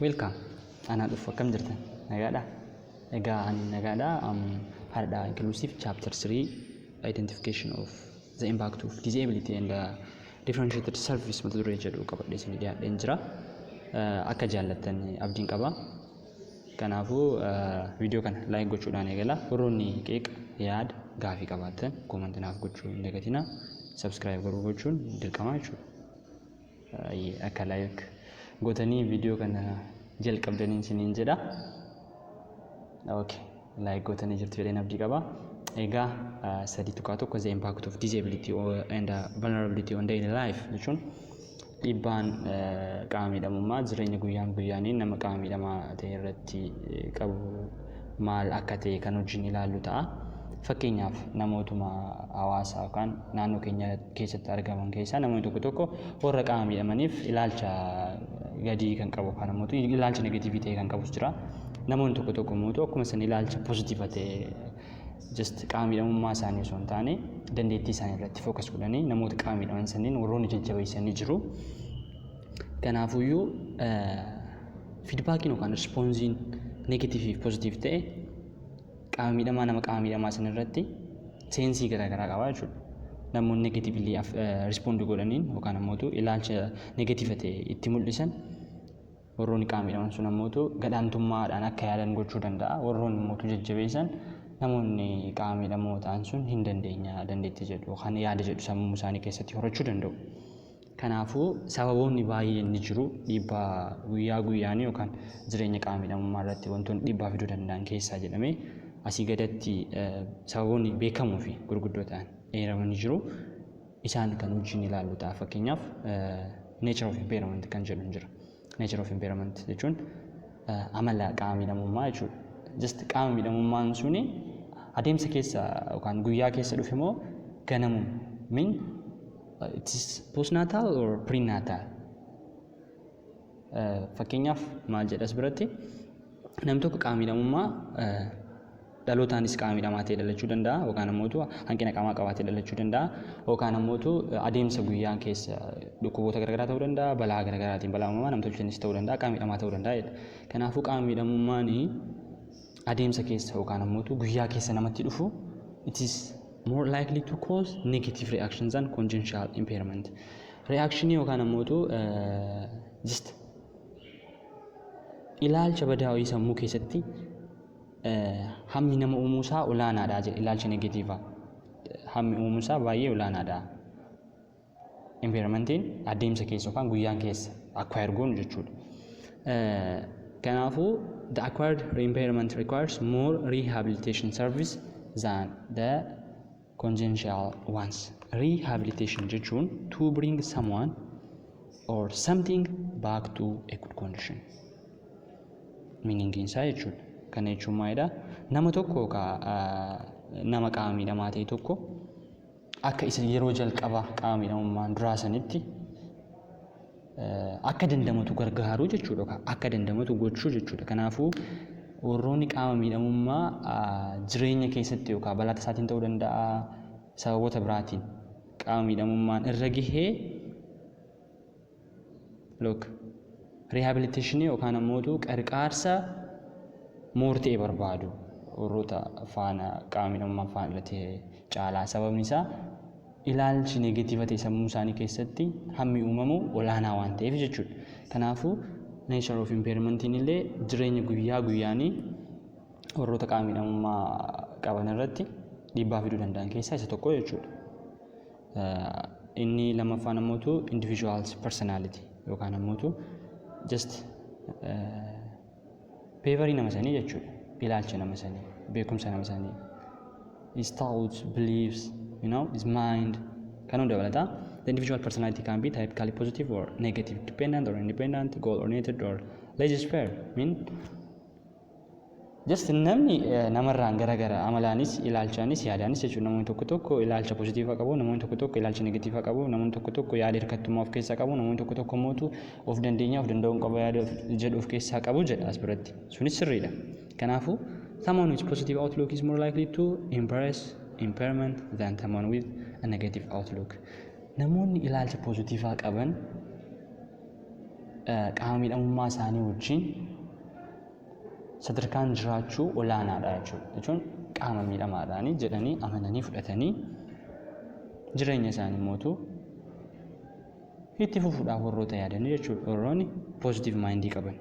Welcome. Anaa dhufu akkam jirtan? Nagaadha? Egaa ani nagaadha. Um, Hardha inclusive chapter 3 identification of the impact of disability and uh, differentiated service mata duree jedhu qabadhee isin dhiyaadheen jira. Uh, akka jaallattan abdiin qaba. Kanaafuu uh, viidiyoo kana like gochuudhaan eegala. Warroonni qeeqa yaada gaafii qabaattan koomanti naaf gochuu hin dagatina. Subscribe garuu gochuun dirqama jechuudha. Ayyee akka like gotanii video kana jalqabdaniin siniin jedha. Okay. Like gotanii jirtu jedheen abdii qaba. Egaa sadii tuqaa tokko the impact of disability and vulnerability on daily life jechuun dhiibbaan qaama miidhamummaa jireenya guyyaan guyyaanii nama qaama miidhamaa ta'e irratti qabu maal akka ta'e kan wajjin ilaallu ta'a. Fakkeenyaaf namootuma hawaasaa yookaan naannoo keenya keessatti argaman keessaa namoonni tokko tokko warra qaama miidhamaniif ilaalcha gadii kan qabu yookaan immoo ilaalcha negatiivii ta'e kan qabus jira. Namoonni tokko tokko immoo akkuma san ilaalcha pozitiiva ta'e just qaama miidhamummaa isaanii osoo hin taane dandeettii isaanii irratti fookas godhanii namoota qaama miidhaman sanniin warroonni jajjabeessanii jiru. Kanaafuyyuu fiidbaakiin yookaan rispoonsiin negatiivii fi pozitiiv ta'e qaama miidhamaa nama qaama miidhamaa san irratti seensii garaagaraa qaba jechuudha. Namoonni negatiivlii rispoondi godhaniin yookaan ammootu ilaalcha negatiiva ta'e itti mul'isan warroonni qaama miidhaman sun ammootu gadaantummaadhaan akka yaadan gochuu danda'a. Warroonni ammootu jajjabeessan namoonni qaama miidhamoo ta'an sun hin dandeenya dandeettii jedhu yookaan yaada jedhu sammuu isaanii keessatti horachuu danda'u. Kanaafuu, sababoonni baay'een ni jiru. Dhiibbaa guyyaa guyyaan yookaan jireenya qaama miidhamummaa irratti wantoonni dhiibbaa fiduu danda'an keessaa jedhamee asii gadatti sababoonni beekamoo fi gurguddoo ta'an eeramanii jiru. Isaan kan wajjin ilaallu ta'a. Fakkeenyaaf nature of impairment kan jedhu jira. Nature of impairment jechuun amala qaama miidhamummaa jechuudha. Just qaama miidhamummaan suni adeemsa keessa yookaan guyyaa keessa dhufe moo ganamuma min Uh, it is postnatal or prenatal. Uh, fakkeenyaaf maal jedhas biratti nam tokko qaamidhamummaa uh, dhalootaanis qaamidhamaa ta'e dhalachuu danda'a yookaan ammootu hanqina qaamaa qabaatee dhalachuu danda'a yookaan ammootu adeemsa guyyaan keessa dhukkuboota garaagaraa ta'uu danda'a balaa garaagaraatiin balaa uumamaa namtolcheenis ta'uu danda'a qaamidhamaa ta'uu danda'a jedha. Kanaafuu qaamidhamummaan adeemsa keessa yookaan ammootu guyyaa keessa namatti dhufu it is more likely to cause negative reaction than congenital impairment. Reaction yookaan ammootu just ilaalcha badaa wayii sammuu keessatti hammi nama uumuusaa olaanaadha jedhe ilaalcha negatiivaa. Hammi uumuusaa baay'ee olaanaadha. Environmentiin adeemsa keessa yookaan guyyaan keessa acquire goonu jechuudha. Kanaafuu the acquired impairment requires more rehabilitation service than the congenital ones. Rehabilitation jechuun to bring someone or something back to a good condition. Meaningiin isaa jechuudha. Kana jechuun maalidha? Nama tokko yookaan nama qaama miidhamaa ta'e tokko akka isa yeroo jalqaba qaama miidhamummaan duraa sanitti akka dandamatu gargaaruu jechuudha. Akka dandamatu gochuu jechuudha. Kanaafuu warroonni qaama miidhamummaa jireenya keessatti yookaan balaa tasaatiin ta'uu danda'a sababoota biraatiin qaama miidhamummaan irra gahee Look. Rihaabiliteeshinii yookaan ammootu qarqaarsa moortee barbaadu warroota faana qaamni dhimma faana irratti hire caalaa sababni isaa ilaalchi negatiiva ta'e sammuu isaanii keessatti hammi uumamu olaanaa waan ta'eef jechuudha. Kanaafuu nature of impairment illee jireenya guyyaa guyyaanii warroota qaamni dhamummaa qaban irratti dhiibbaa fiduu danda'an keessaa isa tokko jechuudha. Inni lammaffaan ammootu individuals personality yookaan ammootu just beevarii nama sanii jechuudha. Ilaalcha nama sanii, beekumsa nama sanii. His thoughts, beliefs, you know, his mind kan hunda dabalata. The individual personality can be typically positive or negative, dependent or independent, goal oriented or laissez-faire. Mean Just namni namarraan garagara amalaanis ilaalchaanis yaadaanis jechuun namoonni tokko tokko ilaalcha positiifa qabu namoonni tokko tokko ilaalcha negatiifa qabu namoonni tokko tokko yaada hirkattummaa of keessaa qabu namoonni tokko tokko mootu of dandeenyaa of danda'uun qaba yaada jedhu of keessaa qabu jedha as biratti sunis sirriidha kanaafuu someone with positive outlook is more likely to embrace impairment than someone with a negative outlook namoonni ilaalcha positiifaa qaban qaama miidhamummaa isaanii wajjin sadarkaan jiraachuu olaanaadha jechuudha. Jechuun qaama miidhamaadhaani jedhanii amananii fudhatanii jireenya isaanii mootu itti fufuudhaaf warroota yaadanii jechuudha. Warroonni positive mindii qaban.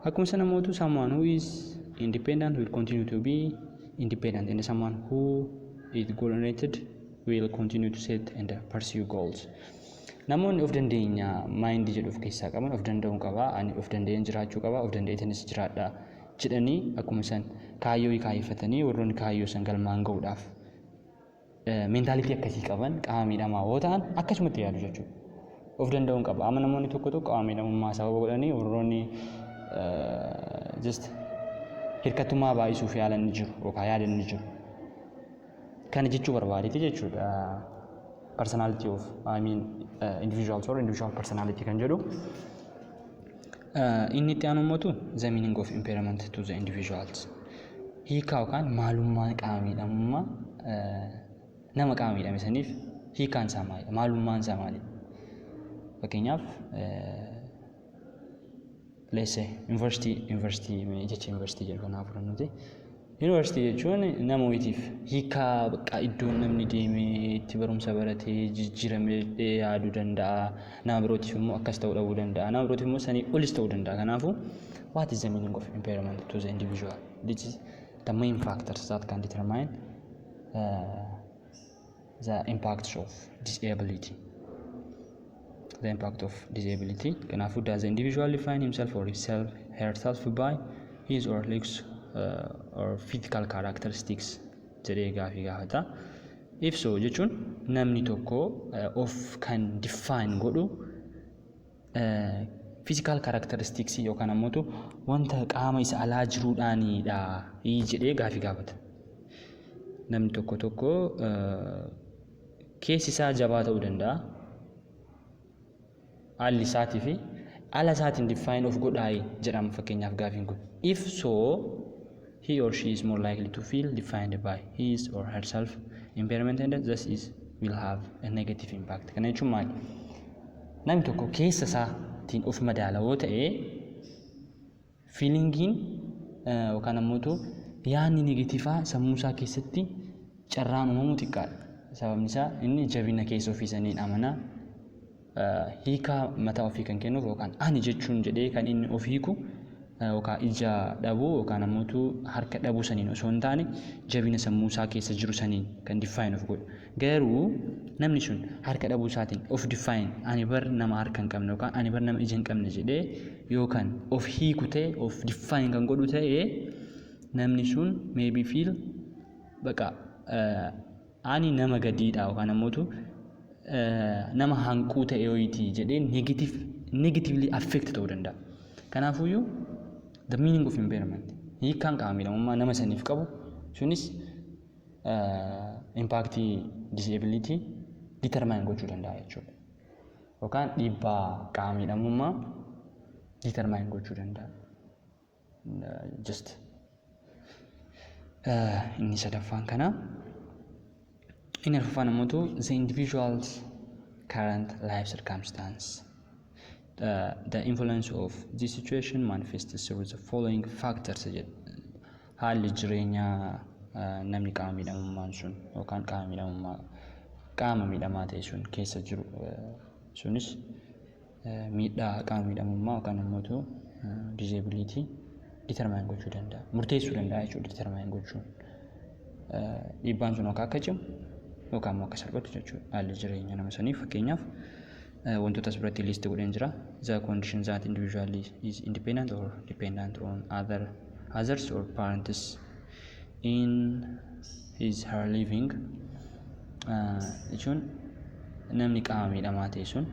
Akkuma sana mootu someone who is independent will continue to be independent and someone who is goal oriented will continue to set and pursue goals. Namoonni of dandeenya maayindii jedhu of keessaa qaban of danda'uun qaba, ani of danda'een jiraachuu qaba, of danda'eetinis jiraadha jedhanii akkuma san kaayyoo kaayyeffatanii warroonni kaayyoo san galmaan ga'uudhaaf meentaalitii akkasii qaban qaama miidhamaa yoo ta'an akkasumatti yaadu jechuudha. Of danda'uun qaba. Amma namoonni tokko tokko qaama miidhamummaa sababa godhanii warroonni just hirkattummaa baay'isuuf yaalan ni jiru yookaan yaadan ni jiru. Kana jechuu barbaadeti jechuudha. Personality of, I mean, uh, individuals or individual personality kan jedhu. Uh, inni itti aanu mootu the meaning of impairment to the individuals. Hiikaa yookaan maalummaan qaama miidhamummaa uh, nama qaama miidhame saniif hiikaan isaa maalidha? Maalummaan isaa maalidha? Fakkeenyaaf uh, Leesse yuunivarsiitii yuunivarsiitii jecha yuunivarsiitii jedhu kanaaf fudhannuti. Yuunivarsiitii jechuun nama wayitiif hiikaa bakka iddoon namni deemee itti barumsa baratee jijjiiramee yaaduu danda'a. Nama birootiif immoo akkas ta'uu dhabuu danda'a. Nama birootiif immoo sanii olis ta'uu danda'a. Kanaafuu what is the meaning of impairment to the individual? This is the main factors that can determine uh, the impact of disability the impact of disability kanaafuu does the individual define himself or himself herself by his or looks uh, or physical characteristics jedhee gaafii gaafata if so jechuun namni tokko uh, of kan define godhu fiizikaal kaaraakteristiksii yookaan ammoo wanta qaama isa alaa jiruudhaanidha jedhee gaafii gaafata. Namni tokko tokko keessi isaa jabaa ta'uu danda'a. Haalli isaatii fi ala isaatiin diffaayin of godhaayi jedhama fakkeenyaaf gaafiin kun. If so He or she is more likely to feel defined by his or herself impairment and thus is will have a negative impact. Kana jechuun maali? Namni tokko keessa isaatiin of madaala yoo ta'e fiilingiin yookaan ammoo yaadni negatiivaa sammuu isaa keessatti carraan uumamuu xiqqaadha. Sababni isaa inni jabina keessa ofii saniin amanaa hiikaa mataa ofii kan kennuuf yookaan ani jechuun jedhee kan inni of hiiku yookaan ija dhabuu yookaan ammoo harka dhabuu saniin osoo hin taane jabina sammuu isaa keessa jiru saniin kan diffaayin of godhu. Garuu namni sun harka dhabuu isaatiin of diffaayin ani bar nama harka hin qabne yookaan ani bar nama ija hin qabne jedhee yookaan of hiiku ta'e of diffaayin kan godhu ta'e namni sun maybe feel baqa Ani nama gadii dha yookaan ammootu nama hanquu ta'e ho'iiti jedhee negative negatively affect ta'uu danda'a. Kanaafuyyuu the meaning of impairment hiikkaan qaama miidhamummaa nama saniif qabu sunis impaaktii disability determine gochuu danda'a jechuudha. Yookaan dhiibbaa qaama miidhamummaa determine gochuu danda'a. just inni sadaffaan kana inni arfaffaan ammoo tu the individual's current life circumstance uh, the influence of this situation manifests through the following factors jedhu haalli jireenya uh, namni qaama miidhamummaan sun yookaan qaama miidhamummaa qaama miidhamaa ta'e sun keessa jiru uh, sunis miidhaa haqaa miidhamummaa yookaan immoo tu disability determine gochuu danda'a. Murteessuu danda'a jechuudha determine gochuun. Dhiibbaan sun yookaan akka cimu yookaan immoo akka salphatu jechuudha. Haalli jireenya nama saniif fakkeenyaaf wantoota as biratti liisti godheen jira. The condition that individual is independent or dependent on other others or parents in his her living ah, jechuun namni qaama miidhamaa ta'e sun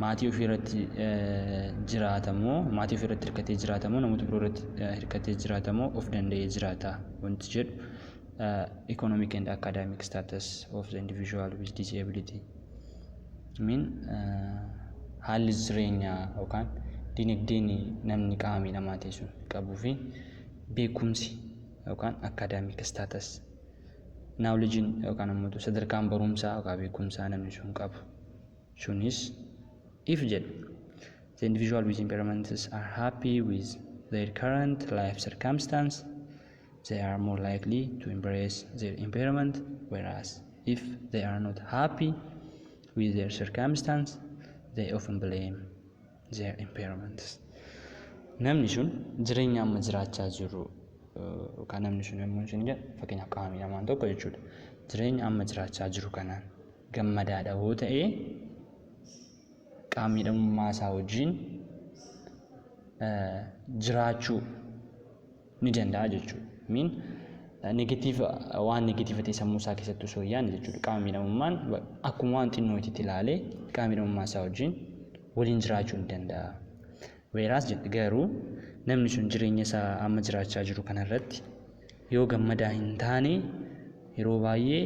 maatii ofii irratti eh, jiraata moo maatii ofii irratti hirkatee jiraata moo namoota biroo irratti eh, hirkatee jiraata moo of danda'ee jiraata wanti jedhu eh, economic and academic status of the individual with disability min eh, haalli jireenyaa yookaan dinagdeen namni qaama miidhamaa ta'e sun qabuu fi beekumsi yookaan academic status naawulijiin yookaan ammoo sadarkaan barumsaa yookaan beekumsaa namni sun qabu sunis if jedhu the individual with impairments are happy with their current life circumstance they are more likely to embrace their impairment whereas if they are not happy with their circumstance they often blame their impairments. Namni sun jireenya amma jiraachaa jiru yookaan namni sun yommuu isin jedhu fakkeenyaaf qaama miidhamaan tokko jechuudha. Jireenya amma jiraachaa jiru kanaan gammadaadha yoo ta'e qaama miidhamummaa isaa wajjin jiraachuu ni danda'a jechuudha. Miin negatiiva waan negatiiva ta'e sammuu isaa keessatti osoo hin yaadne jechuudha. Qaama miidhamummaan akkuma waan xinnootitti ilaalee qaama miidhamummaa isaa wajjin waliin jiraachuu ni danda'a. Weeraas jedhe garuu namni sun jireenya isaa amma jiraachaa jiru kanarratti yoo gammadaa hin taane yeroo baay'ee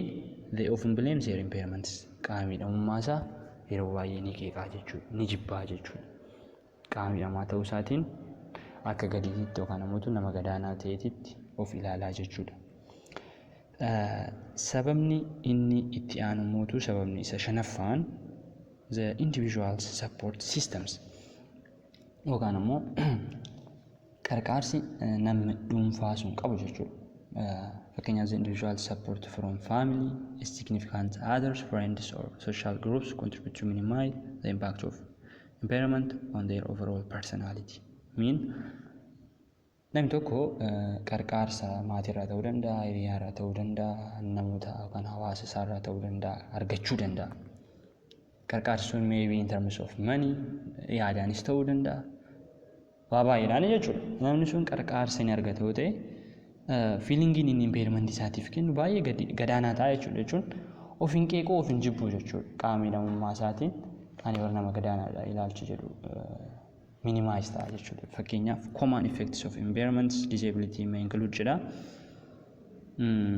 they often blame their impairments qaama miidhamummaa isaa yeroo baay'ee ni qeeqaa jechuudha ni jibbaa jechuudha. Qaamni dhamaa ta'uu isaatiin akka gadiititti yookaan ammoo nama gadaanaa ta'eetitti of ilaalaa jechuudha. Sababni inni itti aanu mootu sababni isa shanaffaan the individuals support systems yookaan ammoo qarqaarsi namni dhuunfaa sun qabu jechuudha. Fakkeenyaaf the individual support from family, significant others, friends or social groups contribute to minimize the impact of impairment on their overall personality mean namni tokko qarqaarsa maatiirraa ta'uu danda'a, hiriyaarraa ta'uu danda'a, namoota yookaan hawaasa isaarraa ta'uu danda'a argachuu danda'a. Qarqaarsi sun maybe in terms of money yaadaanis ta'uu danda'a. waa baay'eedhaan jechuudha. Namni sun qarqaarsa inni argate yoo ta'e fiilingiin inni impairment isaatiif kennu baay'ee gadi- gadaanaa ta'a jechuudha jechuun of hin qeequu of hin jibbuu jechuudha qaama miidhamummaa isaatiin ani warra nama gadaanaadha ilaalchi jedhu minimize ta'a jechuudha. Fakkeenyaaf common effects of impairments disability may include jedha. Mm.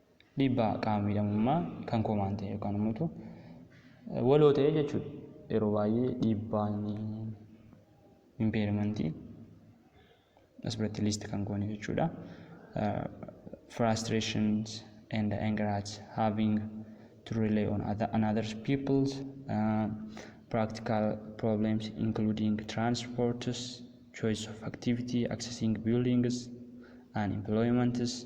Dhiibbaa qaama miidhamummaa kan koo waan ta'e yookaan immoo waloo ta'e jechuudha. Yeroo baay'ee dhiibbaan impeerimantii as biratti liist kan goone jechuudha. Frustrations and anger at having to rely on other, another people's uh, practical problems including transports, choice of activity, accessing buildings and employments,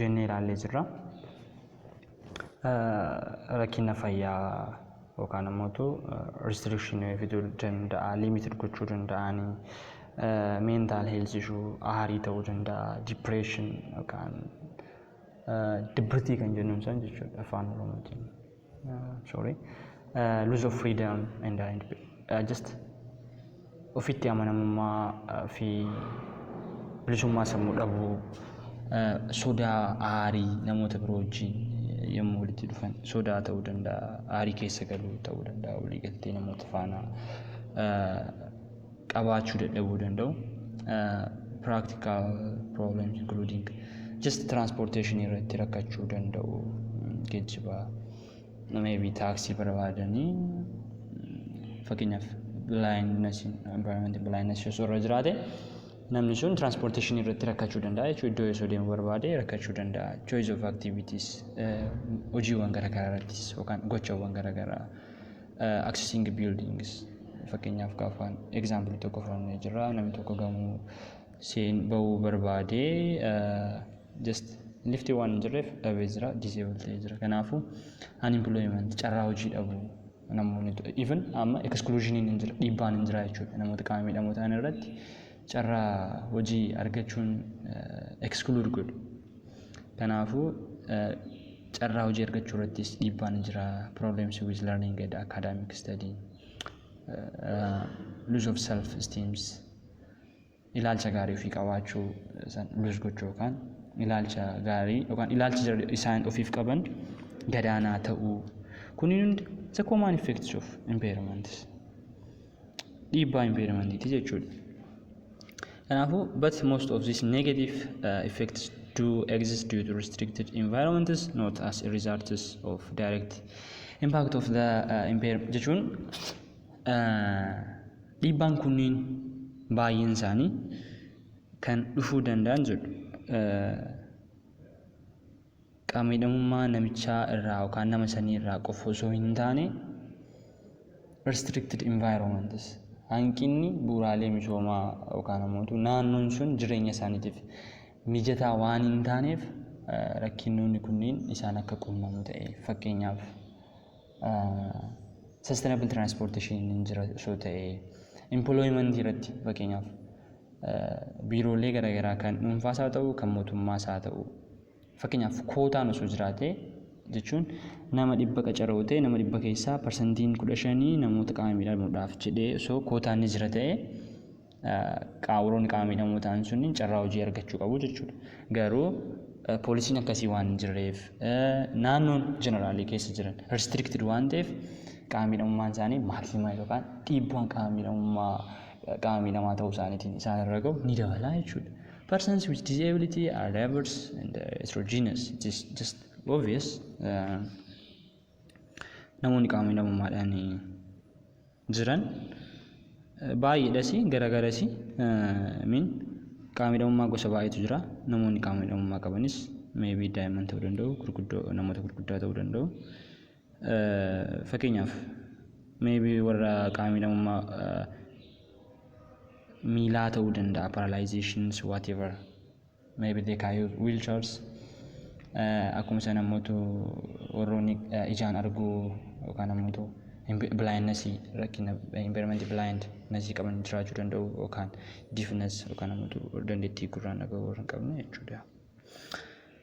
jennee ilaallee jirra. Rakkina fayyaa yookaan immoo restriction fiduu danda'a, limited gochuu danda'ani, mental health issue, aarii ta'uu danda'a, depression yookaan dibbitii kan jennuun san jechuudha afaan oromootiin. sorry uh, lose of freedom and uh, uh, just ofitti amanamummaa uh, fi bilisummaa sammuu dhabuu uh, sodaa aarii namoota biroo wajjin yommuu walitti dhufan sodaa ta'uu danda'a aarii keessa galuu ta'uu danda'a walii galtee namoota faana uh, qabaachuu dadhabuu danda'u. Practical problems including just transportation irratti rakkachuu danda'u geejjiba maybe taaksii barbaadanii fakkeenyaaf blindness environment blindness osoo irra jiraate namni sun transportation irratti rakkachuu danda'a jechuudha iddoo osoo deemuu barbaade rakkachuu danda'a choice of activities hojiiwwan garaagaraa irrattis yookaan gochawwan garaagaraa accessing buildings fakkeenyaaf gaafaan example tokko fudhannee jirra namni tokko gamoo seen ba'uu barbaadee just lifti waan hin jirreef dhabee jira disable ta'ee jira kanaafu unemployment carraa hojii dhabu namoonni even amma exclusioniin hin jira dhiibbaan hin jira jechuudha namoota qaama miidhamoo ta'an irratti carraa hojii argachuun exclude godhu. Kanaafuu carraa hojii argachuu irrattis dhiibbaa ni jira. Problems with learning and academic study. Lose of self esteems. Ilaalcha gaarii ofii qabaachuu san lose gochuu yookaan ilaalcha gaarii yookaan ilaalchi jara- isaan ofiif qaban gadaanaa ta'uu. Kunniin hundi isa common effects of impairments. dhiibbaa environment jechuudha. Kanaafuu, but most of these negative uh, effects do exist due to restricted environments, not as a result of direct impact of the uh, environment. Jechuun uh, dhiibbaan kunniin baay'een isaanii kan dhufuu danda'an jedhu. Uh, Qaama-miidhamummaa namichaa irraa yookaan nama sanii irraa qofa osoo hin taane, restricted environments, hanqinni bu'uuraalee misoomaa yookaan ammoo naannoon sun jireenya isaaniitiif mijataa waan hin taaneef rakkinnoonni kunniin isaan akka qunnamu ta'e. Fakkeenyaaf sustainable transportation hin jira osoo ta'e, employment irratti fakkeenyaaf biiroolee garaagaraa kan dhuunfaas haa ta'u kan mootummaas haa ta'u Fakkeenyaaf kootaan osoo jiraatee jechuun nama dhibba qacaroo ta'e nama dhibba keessaa parsantiin kudha shanii namoota qaama miidhamuudhaaf jedhee osoo kootaan ni jira ta'e qaawuroonni qaama miidhamoo ta'an sunniin carraa hojii argachuu qabu jechuudha. Garuu poolisiin akkasii waan hin jirreef naannoon jeneraalii keessa jiran restricted waan ta'eef qaama miidhamummaan isaanii maaksimaa yookaan dhiibbaan qaama miidhamummaa qaama miidhamaa ta'uu isaaniitiin isaan irra gahu ni dabalaa jechuudha. Persons with disability are diverse and uh, heterogeneous. It is just obvious. Uh, namoonni qaama miidhamummaadhaan jiran uh, baay'eedhas garagaras min qaama miidhamummaa gosa baay'eetu jira. Namoonni qaama miidhamummaa qabanis meebii daa'imman ta'uu danda'u, gurguddoo namoota gurguddaa ta'uu danda'u. Fakkeenyaaf maybe warra qaama miidhamummaa miilaa ta'uu danda'a paralyzations whatever maybe they can use wheelchairs akkuma sana immoo warroonni ijaan arguu yookaan immoo blindness rakkina impairment blindness qaban jiraachuu danda'u yookaan deafness yookaan immoo dandeettii gurraan dhaga'uu hin qabne jechuudha.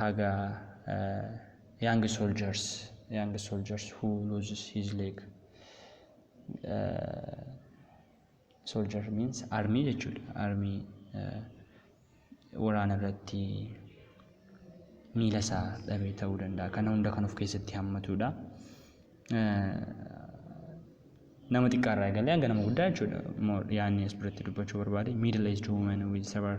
haga young soldiers young soldiers who loses his leg soldier means army jechuudha army waraana irratti miila isaa dhabee ta'uu danda'a kana hunda kan of keessatti hammatudha nama xiqqaa irraa eegalee hanga nama guddaa jechuudha yaanni as biratti dubbachuu barbaade middle aged woman with several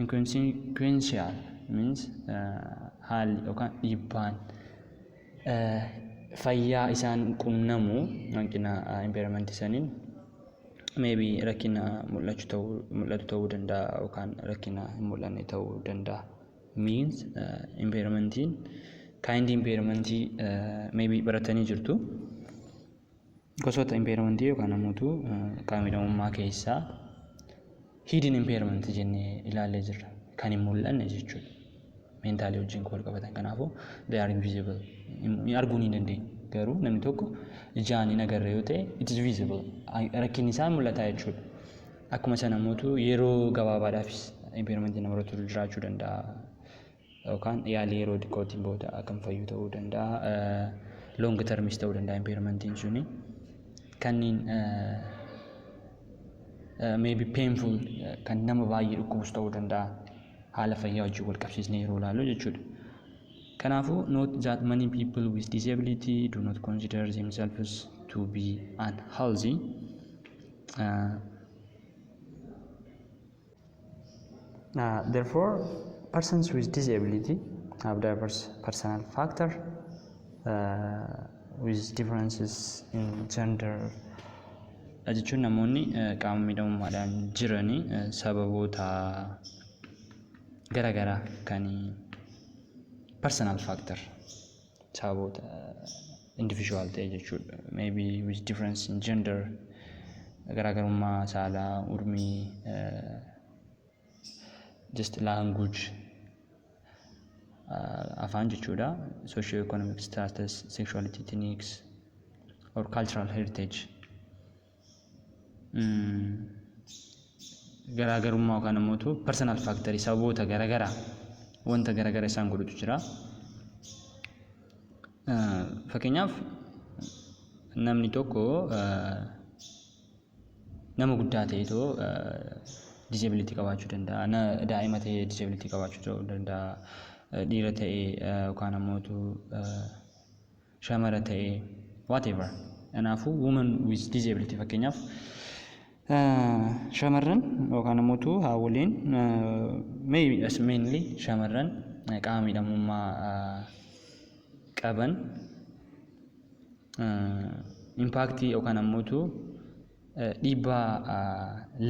Inconsequential means haalli yookaan dhiibbaan fayyaa isaan qunnamu hanqina impairment saniin maybe rakkina mul'achu ta'uu mul'atu ta'uu danda'a yookaan rakkina hin mul'anne ta'uu danda'a. Means impairmentiin kind impairmentii maybe baratanii jirtu. Gosoota impairmentii yookaan ammoo qaama miidhamummaa keessaa hidden impairment jennee ilaallee jirra. Kan hin mul'anne jechuudha. Meentaalii wajjin kan wal qabatan kanaafuu they are invisible. Arguu ni dandeenya. Garuu namni tokko ijaan hin agarre yoo ta'e it is visible. Rakkinni isaa mul'ataa jechuudha. Akkuma sana immoo yeroo gabaabaadhaafis impairmentii namarratti jiraachuu danda'a. yookaan yaalii yeroo xiqqootiin booda kan fayyu ta'uu danda'a. Long termis ta'uu danda'a impairmentiin suni. Kanniin maybe painful kan nama baay'ee dhukkubus ta'uu danda'a. Haala fayyaa wajjin wal qabsiisnee yeroo ilaallu jechuudha. Kanaafuu note that many people with disability do not consider themselves to be unhealthy. Uh, Uh, therefore, persons with disability have diverse personal factor uh, with differences in gender. Dha jechuun namoonni uh, qaama miidhamummaadhaan jiranii uh, sababoota garaagaraa kan personal factor saboota individual ta'e jechuudha. Maybe with difference in gender garaagarummaa saalaa, urmii, uh, just language uh, afaan jechuudha. Socio-economic status, sexuality, ethnics or cultural heritage. garaagarummaa yookaan ammoo tu personal factor sababoota garaagaraa wanta garaagara isaan godhutu jira. Fakkeenyaaf namni tokko nama guddaa ta'e too disability qabaachuu danda'a. Daa'ima ta'e disability qabaachuu danda'a. Dhiira ta'e yookaan ammoo tu shamara ta'e whatever kanaafuu woman with disability fakkeenyaaf shamarran yookaan immoo tu haawoliin maybe as mainly shamarran qaama miidhamummaa qaban impaaktii yookaan ammoo tu dhiibbaa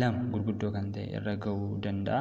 lama gurguddoo kan ta'e irra ga'uu danda'a.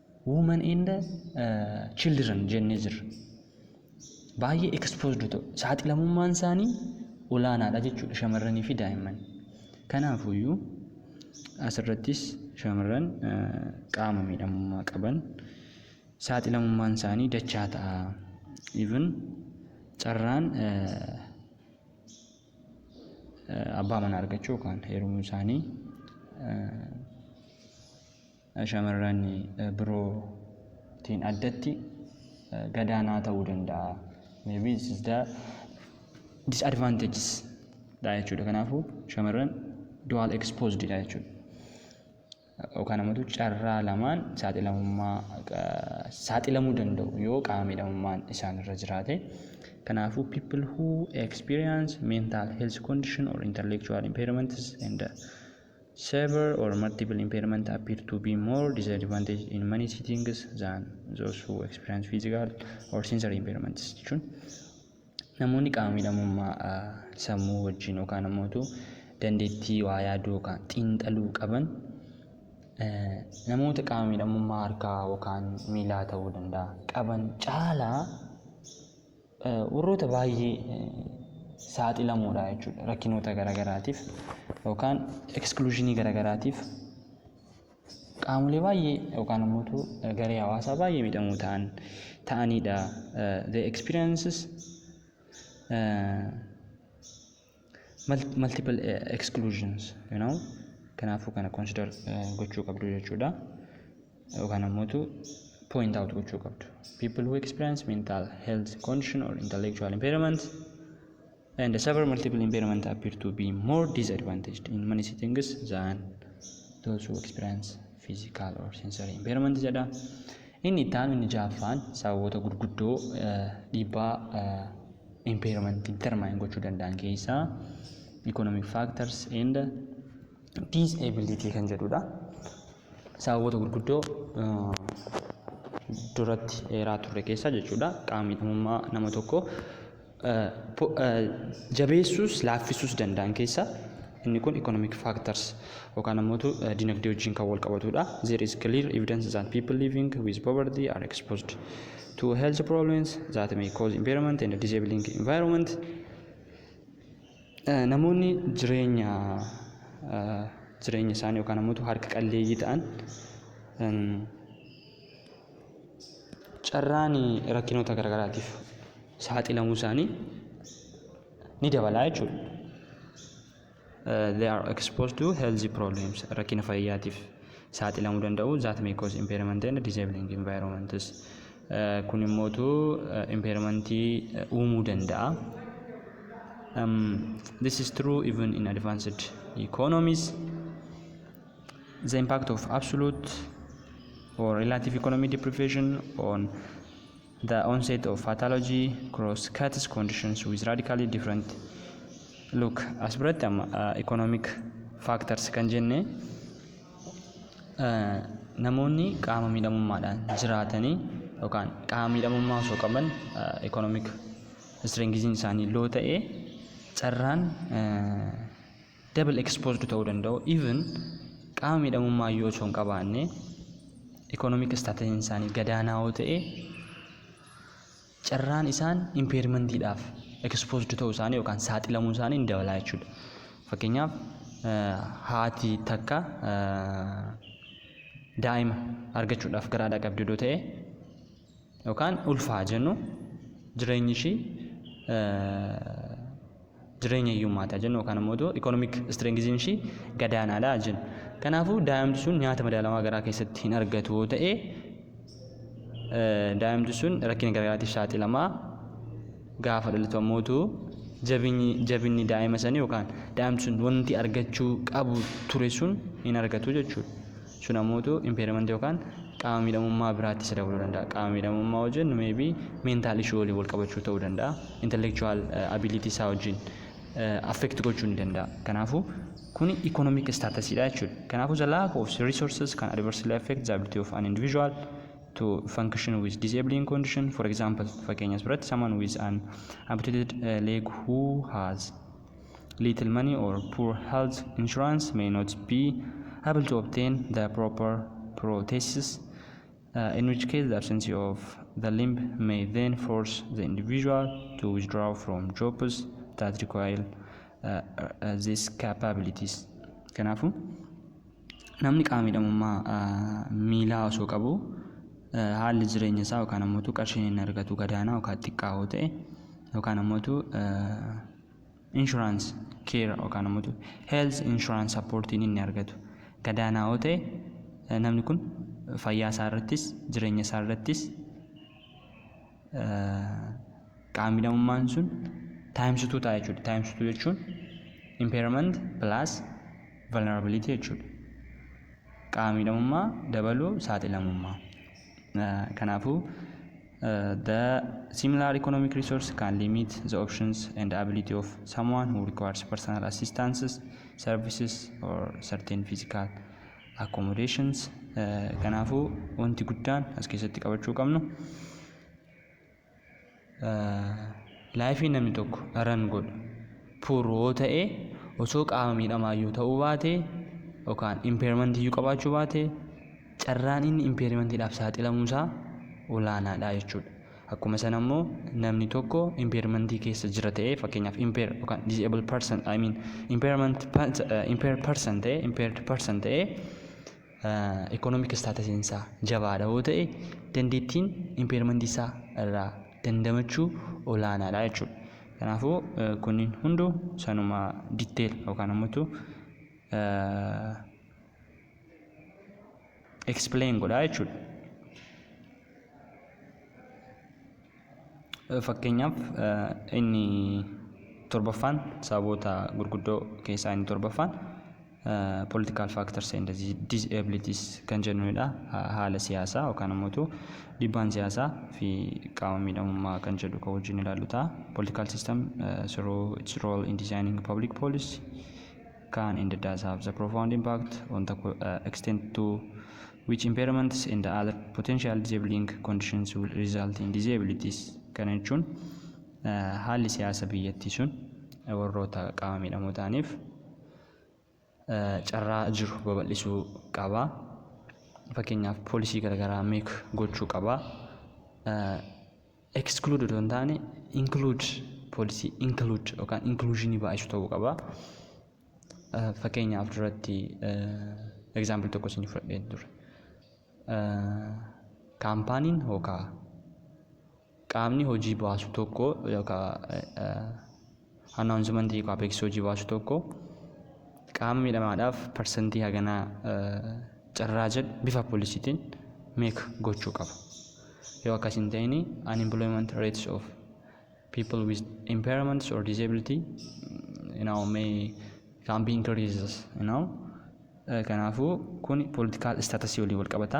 Women and Children jennee jirra. Baay'ee exposed ta'u. Saaxilamummaan isaanii olaanaadha jechuudha shamarranii fi daa'imman. Kanaafuyyuu asirrattis shamarran qaama miidhamummaa qaban saaxilamummaan isaanii dachaa ta'a. Even carraan abbaa manaa argachuu yookaan heerumuu isaanii shamarran biroo tiin addatti gadaanaa ta'uu danda'a. Maybe this is the disadvantages dha jechuudha. Kanaafuu shamarran dual exposed dha jechuudha. Yookaan ammoo carraa lamaan saaxilamummaa saaxilamuu danda'u yoo qaama miidhamummaan isaan irra jiraate. Kanaafuu people who experience mental health condition or intellectual impairments and Severe or multiple impairment appear to be more disadvantaged in many settings than those who experience physical or sensory impairments jechuun namoonni qaama miidhamummaa ah, sammuu wajjin yookaan ammoo utuu dandeettii waa yaaduu yookaan xiinxaluu qaban eh, namoota qaama miidhamummaa harkaa yookaan miilaa ta'uu danda'a qaban caalaa Warroota baay'ee saaxilamoodha jechuudha rakkinoota garaagaraatiif yookaan ekskluushinii garaagaraatiif qaamolee baay'ee yookaan immoo garee hawaasaa baay'ee miidhamoo ta'an ta'aniidha. The experiences uh, multiple eh, exclusions you know kanaafuu kana consider eh, gochuu qabdu jechuudha yookaan ammoo point out gochuu qabdu people who experience mental health condition or intellectual impairment and suffer multiple impairment appear to be more disadvantaged in many settings than those who experience physical or sensory impairment jedha Inni itti aanu inni jahaffaan sababoota gurguddoo dhiibbaa impairment determine gochuu danda'an keessaa economic factors and disability kan jedhudha. Sababoota gurguddoo duratti eeraa turre keessaa jechuudha qaamni dhimummaa nama tokko jabeessuus laaffisuus danda'an keessaa inni kun economic factors yookaan ammoo dinagdee wajjin kan wal qabatudha. There is clear evidence that people living with poverty are exposed to health problems that may cause impairment and disabling environment. Namoonni jireenya jireenya isaanii yookaan ammoo harka qalleeyyii ta'an carraan rakkinoota garaagaraatiif saaxilamuu isaanii ni dabalaa jechuudha. They are exposed to healthy problems rakkina fayyaatiif saaxilamuu danda'u that may cause impairment and disabling environments kun immootu impairmentii uumuu danda'a. Um, this is true even in advanced economies. the impact of absolute or relative economic deprivation on the onset of pathology cross cuts conditions with radically different look as biratti amma uh, economic factors kan jenne uh, namoonni qaama miidhamummaadhaan jiraatanii yookaan qaama miidhamummaa osoo qaban uh, economic strengthin isaanii loo ta'e carraan uh, double exposed ta'uu danda'u even qaama miidhamummaa iyyuu osoo hin qabaanne economic status isaanii gadaanaa yoo ta'e carraan isaan impairmentiidhaaf exposed ta'uu isaanii yookaan saaxilamuu isaanii ni dabalaa jechuudha. Fakkeenyaaf haati takka daa'ima argachuudhaaf gara haadha qabdu yoo ta'e yookaan ulfa haa jennu jireenyi ishii jireenya hiyyummaa ta'a jennu yookaan immoo otoo ikoonomik istirengiziin ishii gadaanaadha jennu. Kanaafuu daa'imti sun nyaata madaalawaa garaa keessatti hin argatu yoo ta'e daa'imti sun rakkina garaagaraatiif saaxilamaa gaafa dhalatu ammoo utuu jabinyi jabinni daa'ima sanii yookaan daa'imti sun wanti argachuu qabu ture sun hin argatu jechuudha. Sun ammuutu impairment yookaan qaama miidhamummaa biraatti isa dabaluu danda'a. Qaama miidhamummaa yoo jennu maybe mental issue waliin wal qabachuu ta'uu danda'a. Intellectual eh, ability isaa wajjin eh, affect gochuu ni danda'a. Kanaafuu kuni economic status dha jechuudha. Kanaafuu the lack of resources can adversely affect the ability of an individual to function with disabling condition. For example, fakkeenyas biratti someone with an amputated eh, leg who has Little money or poor health insurance may not be able to obtain the proper prothesis, uh, in which case the absence of the limb may then force the individual to withdraw from jobs that require uh, uh, these capabilities. Kanaafuu namni qaama miidhamummaa uh, miilaa osoo qabu uh, haalli jireenya isaa yookaan ammoo qarshii inni argatu gadaanaa yookaan xiqqaa yoo ta'e yookaan ammoo uh, insurance care yookaan ammoo health insurance supportiin inni argatu gadaanaa yoo ta'e eh, namni kun fayyaa isaa irrattis jireenya isaa irrattis eh, qaamni damummaan sun taayimsituu ta'a jechuudha. Taayimsituu jechuun impairment plus vulnerability jechuudha. Qaamni damummaa dabaluu saaxilamummaa. Eh, Kanaafuu The similar economic resource can limit the options and ability of someone who requires personal assistance, services or certain physical accommodations. Eh, Kanaafuu wanti guddaan as keessatti qabachuu qabnu laayifii namni tokko ran godhu puur yoo ta'e osoo qaama miidhamaa yoo ta'uu baate yookaan impairment iyyuu qabaachuu baate carraan inni impairmentiidhaaf saaxilamuu isaa olaanaadha jechuudha. Akkuma sana immoo namni tokko impairmentii keessa jira ta'ee fakkeenyaaf impair yookaan disabled person I mean impairment impair person ta'ee impaired person ta'ee economic staatusiin isaa jabaadha yoo ta'e dandeettiin impairmentii isaa irraa dandamachuu olaanaadha jechuudha. Kanaafuu kunniin hunduu sanuma detail yookaan ammoo explain godhaa jechuudha. Fakkeenyaaf inni torbaffaan sababoota gurguddoo keessaa inni torbaffaan political factors and disabilities kan jennudha. Haala siyaasaa yookaan immoo dhiibbaan siyaasaa fi qaama miidhamummaa kan jedhu kan wajjin ilaallu ta'a. Political system through its role in designing public policy can and does have the profound impact on the co- uh, extent to which impairments and other potential disabling conditions will result in disabilities. Kana jechuun uh, haalli siyaasa biyyattii sun uh, warroota qaama miidhamoo ta'aniif uh, carraa jiru babal'isuu qaba. Fakkeenyaaf poolisii garaagaraa meek gochuu qaba. Uh, Exclude otoo hin taane include poolisii include yookaan inclusionii baay'isu ta'uu qaba. Eh, Fakkeenyaaf duratti eh, example tokko isin fudhadheen ture. Eh, Kaampaaniin yookaan qaamni hojii baasu tokko yookaan eh, eh, Announcement hiika Apex hojii baasu tokko qaama miidhamaadhaaf parsantii haganaa carraa jedhu bifa polisiitiin meek gochuu qaba. Yoo akkas hin ta'in unemployment rates of people with impairments or disability you know, may can be increases you know. Kanaafuu kun political status waliin wal qabata.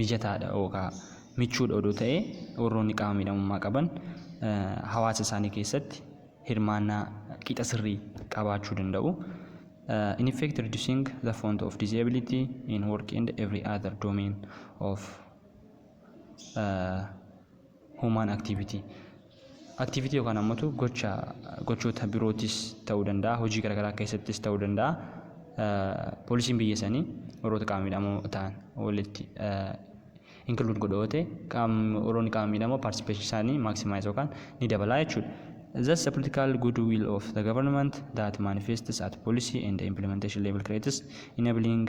mijataadha yookaan michuudha odoo ta'ee warroonni qaama miidhamummaa qaban hawaasa isaanii keessatti hirmaannaa qixa sirrii qabaachuu danda'u. In effect reducing the font of disability in work and every other domain of uh, Human activity Activity yookaan ammatu gocha gochoota birootis ta'uu danda'a hojii garaagaraa keessattis ta'uu danda'a poolisiin biyya sanii warroota qaama miidhamoo ta'an walitti include godha yoo ta'e qaamni warroonni qaama miidhamoo participation isaanii maximize yookaan ni dabalaa jechuudha. Thus, the political goodwill of the government that manifests at policy and implementation level creates enabling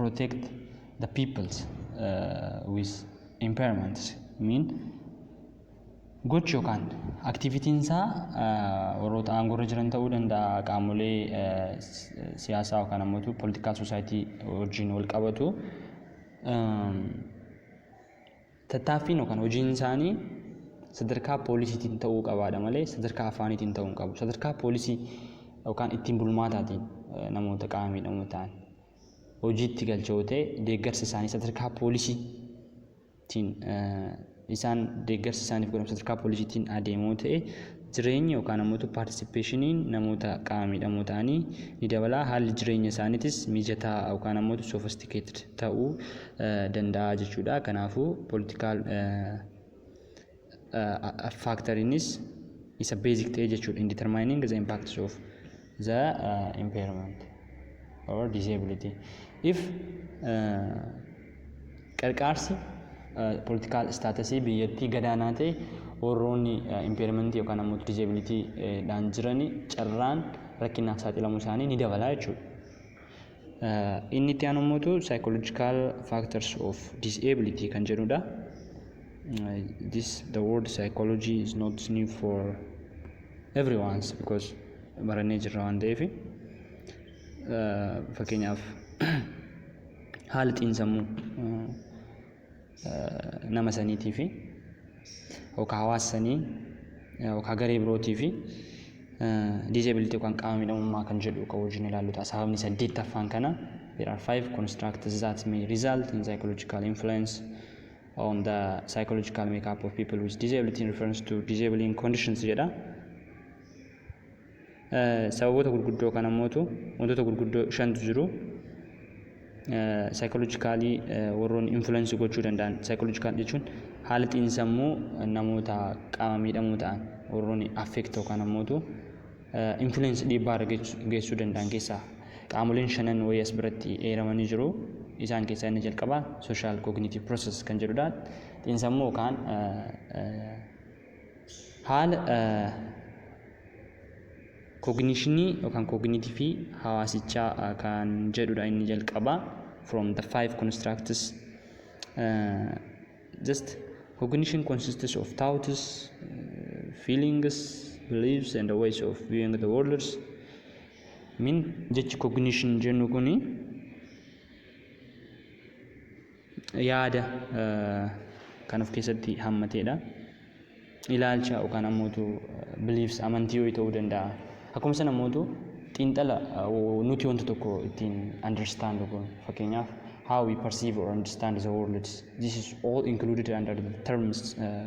protect the peoples uh, with impairments mean gochi yookaan aktivitiin isaa warroota aangoorra jiran ta'uu danda'a qaamolee siyaasaa yookaan ammoo politikaal soosaayitii wajjin wal qabatu Tattaaffiin yookaan hojiin isaanii sadarkaa poolisiitiin ta'uu qabaadha malee sadarkaa afaaniitiin ta'uu hin qabu. Sadarkaa poolisii yookaan ittiin bulmaataatiin namoota qaama miidhamoo ta'an hojiitti galcha yoo ta'e deeggarsi isaanii sadarkaa poolisiitiin isaan deeggarsi isaaniif godhamu sadarkaa poolisiitiin adeemoo ta'e Jireenyi yookaan ammoo paartisipeeshiniin namoota qaama miidhamoo ta'anii ni dabala. Haalli jireenya isaaniitis mijataa yookaan ammoo sophisticated ta'uu danda'a jechuudha. Kanaafuu political factor inis isa basic ta'e jechuudha in determining the impacts of the uh, impairment or disability if uh, qarqaarsi politikaal istaatasii biyyattii gadaanaa ta'e warroonni impairment yookaan ammoo disability dhaan jirani carraan rakkinaaf saaxilamuu isaanii ni dabalaa jechuudha. Inni itti aanu immoo psychological factors of disability kan jedhudha. This the word psychology is not new for everyone's because barannee jirra waan ta'eef fakkeenyaaf haala xiinsammuu nama saniitiifi yookaan hawaasa sanii yookaan garee birootiifi disability yookaan qaama miidhamummaa kan jedhu kan wajjin ilaallu ta'a. Sababni saddeettaffaan kana there are five constructs that may result in psychological influence on the psychological makeup of people with disability in reference to disabling conditions jedha. Sababoota gurguddoo kana mootu wantoota gurguddoo shantu jiru. Saayikoolojikaalii warroonni infulensi gochuu danda'an saayikoolojikaal jechuun haala xiinsammuu namoota qaama miidhamoo ta'an warroonni affeekti yookaan ammootu infulensi dhiibbaa irra geessuu danda'an keessaa qaamoleen shanan wayii as biratti eeramanii jiru. Isaan keessaa inni jalqabaa sooshaal kooginiitiiv pirooses kan jedhudha. Xiinsammuu yookaan Haala kognishinii yookaan kognitifii hawaasichaa kan jedhudha inni jalqabaa from the five constructs uh, just cognition consists of thoughts feelings beliefs and the ways of viewing the worlds min jechi cognition jennu kuni yaada kan of keessatti hammateedha. Ilaalcha yookaan ammootu beliefs amantii ho'i ta'uu danda'a. Akkuma sana ammootu xiinxala nuti wanta tokko ittiin understand goon fakkeenyaaf how we perceive or understand the world this is all included under the terms uh,